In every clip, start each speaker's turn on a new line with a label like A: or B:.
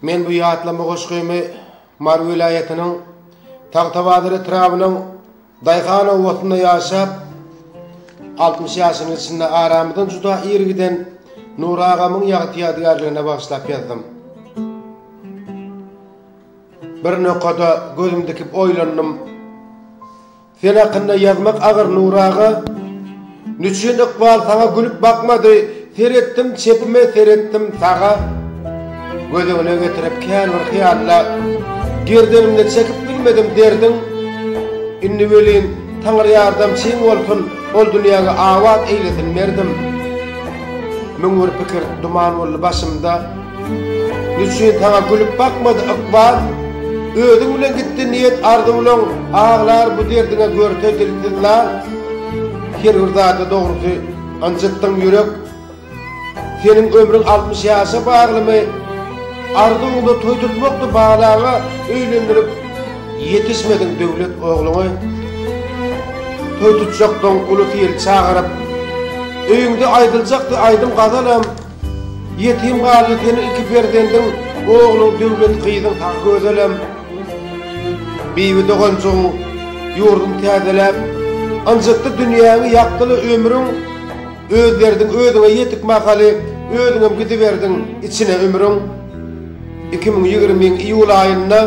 A: Men bu ýatlama goşgymy Mary welaýatynyň Tagtabazar etrabynyň Daýhan obasynda ýaşap, altmyş ýaşynyň içinde aramyzdan juda ir giden Nury agamyň ýagty ýadygärligine bagyşlap ýazdym. Bir nokada gözüm dikip oýlandym. Sen hakynda ýazmak agyr Nur aga, Niçün ykbal saňa gülüp bakmady, Seretdim çepime, seretdim saga, Göz öňüne getirip kän bir hyýalla, Gerdenimde çekip bilmedim derdiň, Indi welin, Taňry ýardamçyň bolsun, Ol dünýäňi abat eýlesin merdim. Müň bir pikir duman boldy başymda, Niçin saňa gülüp bakmady ykbal? Özüň bilen gitdi niýet arzuwlaň Aglar bu derdiňe görse dilsiz lal Her bir zada dogrusy ynjytdyň ýürek Seniň ömrüň altmyş ýaşa baglymy? Arzuwyňda toý tutmakdy balaňa Öýlendirip ýetişmediň döwlet ogluňy Toý tutjakdyň ulusy ýyl çagyryp Öýüňde aýdyljakdy aýdym gazalam Ýetim galdy seniň iki perzendiň, Ogluň Döwlet, gyzyň Sagözelem. Bibi doganjygyň ýurdun täzeläp, Ynjytdy dünýäňi, ýakdyl-a ömrüň. Öz derdiň özüňe ýetik mahaly, Özüňem gidiberdiň içine ümrüň. Iki müň ýigrimin iýul aýynda,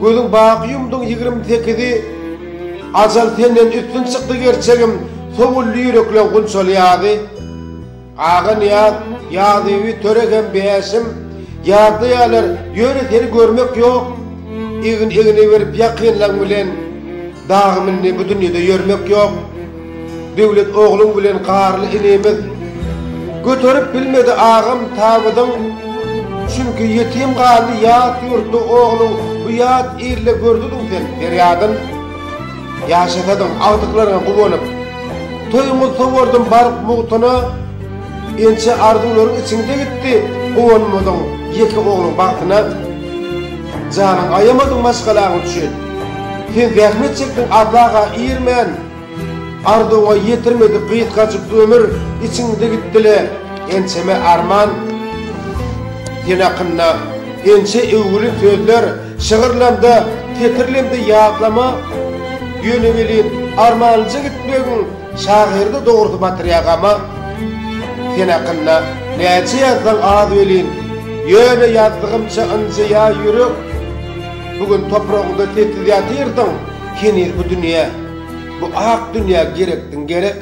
A: Gözüň baky ýumduň ýigrim sekizi, Ajal senden üstün çykdy gerçegim, Sowuldy ýürekleň gunçaly ýazy. Aga Nyýaz, Ýazýewi töre hem bäşim, ýazda ýalar, ýöne seni görmek ýok. Egin-egne berip ýakynlaň bilen dagy mindi bu dünýede ýörmek ýok. Döwlet ogluň bilen Garly inimiz göterip bilmedi agam tabydyň, çünki ýetim galdy ýat ýurtda ogluň bu ýat ilde gördidiň sen perýadyn. Ýaşasadyň agtyklaryňa guwanyp. Toýuňyz sowardym baryp mugtuna, Inçe arzuwlaryň içiňde gitdi, Guwanmadyň ýeke ogluň bagtyna. Janyň aýamadyň maşgalaň üçin, Sen zähmet çekdiň azlaga irmän, Arzuwyňa ýetirmedi gysgajyk ömür, Içiňde gitdi-le ençeme arman. Sen hakynda ençe öwgüli sözler. Şygyrlamda pikirlemde ýatlama ýöne welin armanlyja gitmegiň şagyrdy dogrusy batyrýar gama. Sen hakynda näçe ýazsaň az welin ýöne ýazdygymça ynjaýar ýürek. Bu gün topragyňda sessiz ýatyrsyň heniz bu dünýä bu ak dünýä gerekdiň gerek.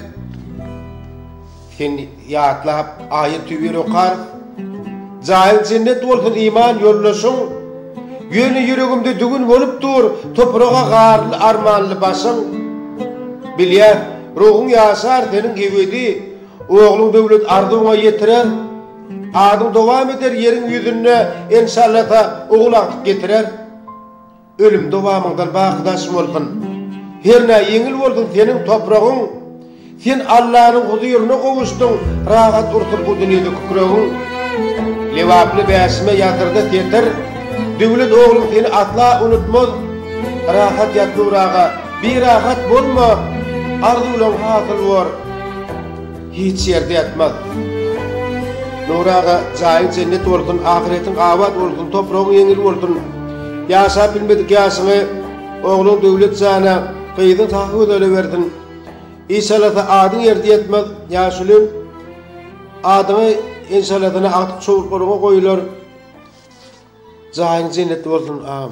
A: Sen ýatlap aýaty bir okarys. Jaýyň jennet bolsun iman ýoldaşyň. Ýöne ýüregimde düwün bolup dur topraga garly armanly başyň. Bilýän, ruhuň ýaşar seniň ebedi, ogluň döwlet arzuwyňa ýetirer. Adyň dowam eder ýeriň ýüzünde enşallata ogul agtyk getirer. Ölüm dowamyňdan baky daşym bolsun. Hernä ýeňil bolsun seniň topragyň. Sen Allanyň huzuryna gowuşdyň, rahat ursun bu dünýede kükregiň. Lebaply bäşime ýazyldy setir, Döwlet ogluň seni asla unutmaz. Rahat ýat Nur aga, birahat bolma, arzuwlaň hasyl bor. Hiç ýerde ýatmaz. Nury aga jaýyň jennet bolsun ahyretiň abat bolsun topragyň ýeňil bolsun ýaşap bilmedik ýaşyňy ogluň Döwlet jana gyzyň Sahygözele bersin işalasa adyň ýerde ýatmaz ýaşulim adyňy enşalasana agtyk çowluklaryňa goýular jaýyň jennet bolsun agam.